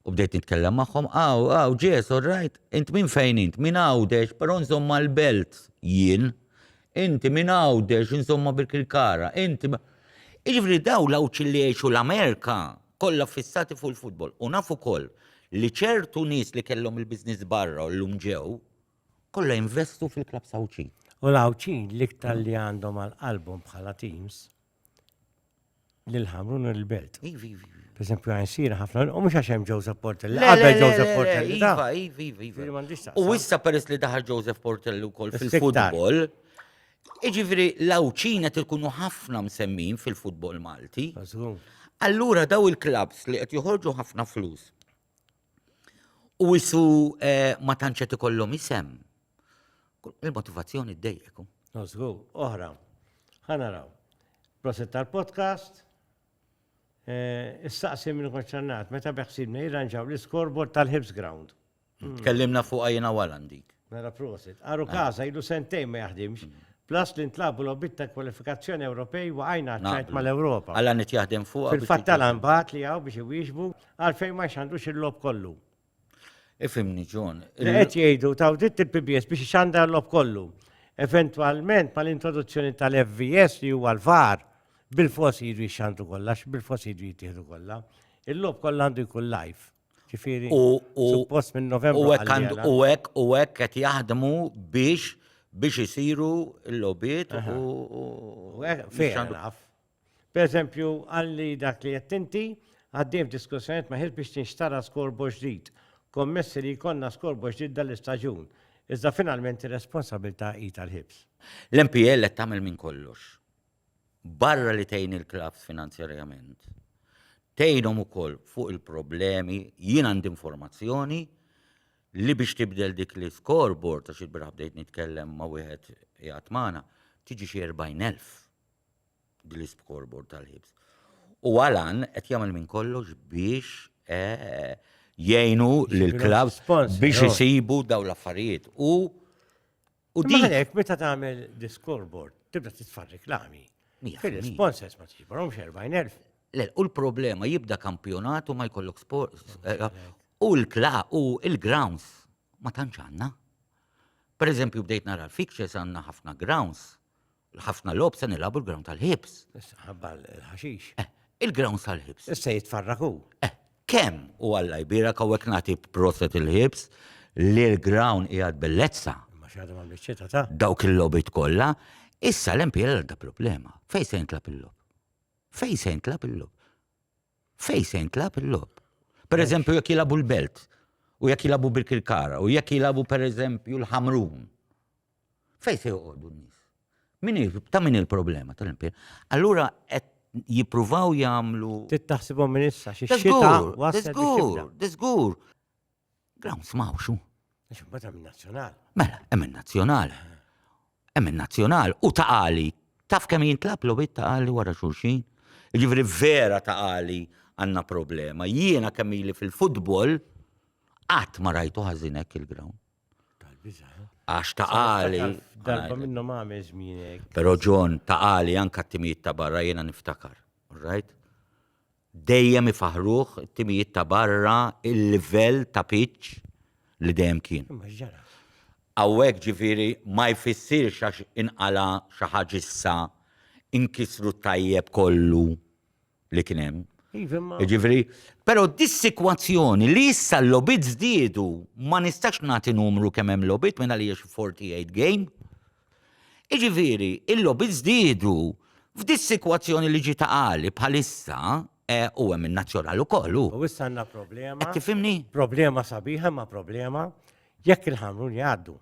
U bdejt nitkellem magħhom, għaw, għaw, ġes, all right, int minn fejn int, minn għawdex, però insomma l-belt jien, inti minn għawdex, insomma bil-kirkara, inti. ma- Iġifri daw l-għawċ li jgħixu l-Amerika kollha fissati fuq il-futbol. U nafu koll li ċertu nies li kellhom il-biznis barra u l-lum ġew, kollha jinvestu fil-klab sawċin. U l-għawċin l-iktar li għandhom għal-qalbhom bħala teams, l-ħamru n il-belt. Ivi, ivi. Per esempio, għan sira ħafna, u mux għaxem Joseph Portelli, għabbe Joseph Portelli. Iva, ivi, ivi, ivi. U issa peress li daħal Joseph Portelli u kol fil-futbol, iġifri l-għawċina tilkunu ħafna msemmin fil-futbol Malti. Allura daw il-klabs li għet joħorġu ħafna flus u isu eh, ma tantx qed ikollhom isem. Il-motivazzjoni ddejjeku. Nozgu, oħra. Ħanaraw. Proset tal-podcast. Eh, Issaqsi minn konċernat, meta beħsibna jirranġaw l-iskorbor tal-Hips Ground. Kellimna fuq għajna walan dik. Mela prosit. Aru Casa ilu sentejn ma jaħdimx, plus li ntlabu logħbiet ta' kwalifikazzjoni Ewropej waqajna għaċ-ċajt mal-Ewropa. Għala qed jaħdem fuqha biex Fil-fatt għala nbagħat li hawn biex iwieġbu għalfejn ma jxandrux il-logħob kollu. Ifhimni John. Li qed jgħidu taw dritt il-PBS biex ixandar l-logħob kollu. Eventwalment mal-introduzzjoni tal-FVS li huwa l-VAR bil-fors jiġu jxandru kollha, bil-fors jiġu jittieħdu kollha. Il-logħob kollha għandu jkun live. Ġifiri, u suppost minn Novembru. U hekk u hekk qed jaħdmu biex biex isiru l-lobiet u. Per eżempju, għalli dak li qed inti għaddejn diskussjoniet ma' biex tinxtara skorbo ġdid. Kommessi li jkollna skorbo ġdid dal-istaġun. Iżda finalment ir-responsabilità hi tal-ħibs. L-MPL qed tagħmel minn kollox. barra li tgħin il-klabbs finanzjarjament, tgħinhom ukoll fuq il-problemi, jien għandi informazzjoni li biex tibdel dik l-scoreboard, għax il-biraħ bdejt nitkellem ma' wieħed jgħat magħna, tiġi xi 40,000 din l-scoreboard tal-ħibs. U għalan qed jagħmel minn kollox biex eh, jgħinu l-klabbs biex isibu daw l-affarijiet. U U din hekk meta tagħmel discorbord tibda titfa' reklami. Fil-sponsors ma tiġiborhom xerbajn elf. Le, u l-problema jibda kampjonat u ma jkollok sport. Eh, u l-kla u l-grounds ma tantx għandna. Per eżempju bdejt nara l-fixtures għandna ħafna grounds Ħafna logħob se nilagħbu l-ground tal-ħibs. Ħabba l-ħaxix. Eh, il-ground tal-ħibs. Issa jitfarraku. Eh, kemm u għalla jbira kawek nagħti proset il-ħibs li l-ground qiegħed bellezza. Ma xadu ma biċċieta ta'. Dawk il-lobit kollha, issa l-MPL għadda problema. Fej se jintlab il-lob? Fej se jintlab il-lob? Fej se jintlab il-lob? Per eżempju, jekk jilabu l-belt, u jekk jilabu bil-kirkara, u jekk jilabu per eżempju l-ħamrun Fejn se joqogħdu n-nies? Min hi, ta' min hi l-problema tal-impjieg? Allura qed jippruvaw jagħmlu. Trid taħsibhom minn issa xi xita Żgur, waslet biex żgur, tibda. żgur. Grounds m'hawnx hu. Għax imbagħad hemm in-nazzjonal. Mela, hemm in-nazzjonal. Hemm in-nazzjonal u ta' għali. Taf kemm jintlab lobit ta' għali wara xulxin? Jiġifieri vera ta' għali għandna problema. Jiena kemm ili fil-futbol qatt ma rajtu ħażin hekk il-ground. Għax ta' għali. Darba minnhom għamel żmienek. Però John ta' għali anka t-timijiet ta' barra jiena niftakar. Right? Dejjem ifaħruh it-timijiet ta' barra il-livell ta' pitch li dejjem kien. Għawek ġifiri ma jfissirx għax inqala xi ħaġa issa inkisru tajjeb kollu. li kien hemm. Iva, ma- Jiġifieri, però dis-sikwazzjoni li issa l-lobit żdiedu ma nistax nagħti numru kemm hemm lobit minn għaliex 48 game. Jiġifieri, il-lobit żdiedu f'dis-sikwazzjoni li ġiet għali bħalissa eh, u hemm in-nazzjonal ukoll hu. U issa għandna problema. Qed tifhimni? Problema sabiħa ma problema jekk il-ħamrun jgħaddu.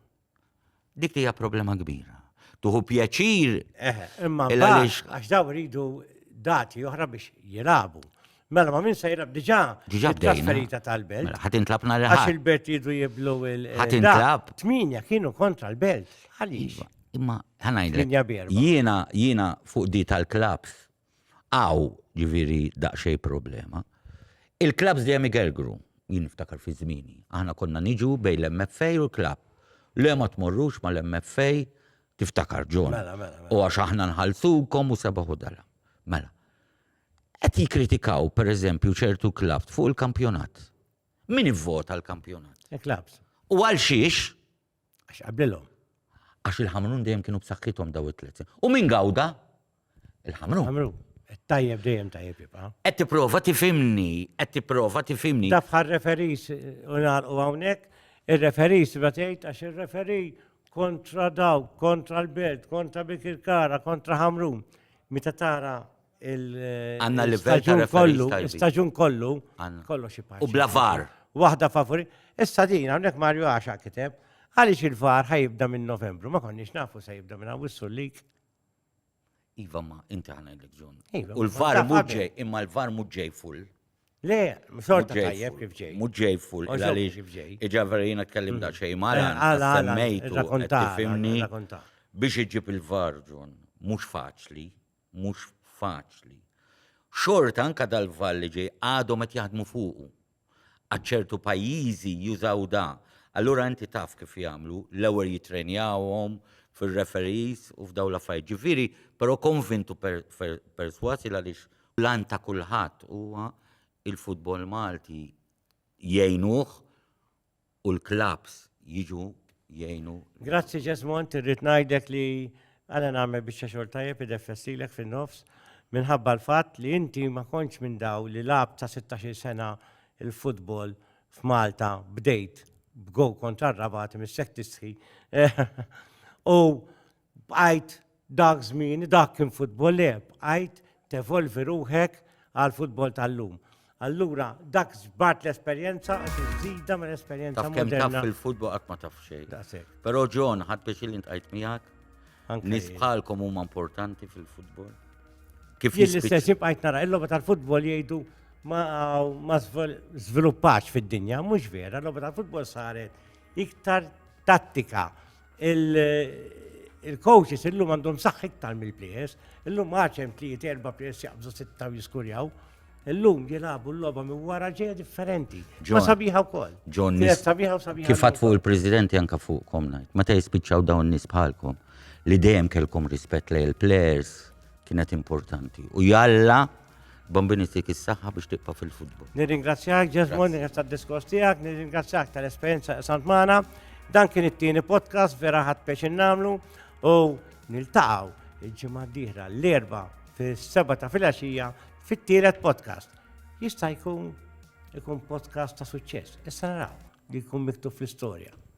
Dik hija problema kbira. Tuħu pjaċir. Eħe, imma għax daw ridu dati oħra biex jirabu. Mela ma minn se jirab diġà diġà trasferita tal-belt. Mela, ħadd intlab nhar Għax il-belt jidu jiblu il Ħadd intlab. Tminja kienu kontra l-belt. Għaliex? Iva, imma ħanajdlek. Jiena jiena fuq di tal-klabs Hawn, ġifieri, daqsxejn problema. Il-klabbs dejjem igergru. Jien niftakar fi żmieni. Aħna konna niġu bejn l-MFA u l-klabb. Le ma tmorrux mal-MFA, tiftakar John. Mela, mela, mela. U għax aħna nħallsukom u sebaħ u dala. Mela. Qed jikkritikaw, pereżempju, ċertu klabbs fuq il-kampjonat. Min ivvota l-kampjonat? Il-klabbs. U għal xiex? Għax qablilhom. Għax il-Ħamrun dejjem kienu b'saħħithom daw it-tliet. U min gawda? Il-Ħamrun. Ħamrun. Tajjeb dejjem tajjeb jibqa'. Qed tipprova tifimni, qed tipprova tifimni. Taf ħar referis u nagħlqu hawnhekk, ir-referis ma tgħid għax ir-referi kontra daw, kontra l-belt, kontra Bikirkara, kontra Ħamrun. Meta tara Għanna livell ta' kollu, staġun kollu, kollu xi U bla var. Waħda favori. Issa din hawnhekk Mario għaxa kiteb, għaliex il-var ħajibda minn Novembru, ma konniex nafu se jibda minn Awwissu lik. Iva ma, inti ħana l-ġun. Iva, U l-var muġġej, imma l-var muġġej full. Le, xorta tajjeb kif ġej. Muġġej full, għaliex kif ġej. Iġa verina kellim mm. da xej mara, eh, semmejtu, tifimni. Biex iġib il-var ġun, mux faċli, mhux faċli. Xorta anke dal-vall li ġej għadhom qed jaħdmu fuqu. Għad ċertu pajjiżi jużaw da, allura inti taf kif jagħmlu, l-ewwel jittrenjawhom fir-referees u f'dawn l-affarijiet. Ġifieri, però konvint u persważ il għaliex l-għan ta' kulħadd huwa il-futbol Malti jgħinuh u l-klabbs jiġu jgħinu. Grazzi Ġesmont, irrid ngħidlek li għana nagħmel biċċa xogħol tajjeb ideffessilek fin-nofs minħabba l-fatt li inti ma kontx minn daw li lab ta' 16 sena il-futbol f'Malta bdejt b'gow kontra r-rabat mis-sek tisħi. U Bqajt dak żmien, dak kien futbol le, bqajt tevolvi ruħek għal futbol tal-lum. Allura, dak ġbart l-esperjenza u tiżida minn esperjenza Taf kemm taf fil-futbol qatt ma taf xejn. Però John, ħadd biex li ntqajt miegħek. Nis bħalkom huma importanti fil-futbol. Kif jien l-istess jibqajt nara il-logħba tal-futbol jgħidu ma żviluppax fid-dinja, mhux vera, l-logħba tal-futbol saret iktar tattika Il-coaches illum għandhom saħħ iktar mill-players, illum għaċem tliet erba' players jaqbżu sitta u jiskurjaw. Illum jilagħbu l-logħba minn wara ġeja differenti. Ma sabiħa wkoll. John, sabiħa u sabiħa. Kif fuq il-Presidenti anka fuqkom ngħid, meta jispiċċaw dawn nies bħalkom li dejjem kelkom rispett lejn il-players kienet importanti. U jalla Bombini tik is-saħħa biex tibqa' fil-futbol. Nirringrazzjak Ġesmond nirringrazzjak tad-diskors tiegħek, nirringrazzjak tal-esperjenza qsamt magħna. Dan kien it-tieni podcast vera ħadd peċin nagħmlu u niltaqgħu il-ġimgħa d-dieħla l-erba' fis-seba' ta' filgħaxija fit-tielet podcast. Jista' jkun ikun podcast ta' suċċess. Issa naraw li jkun miktub fl-istorja.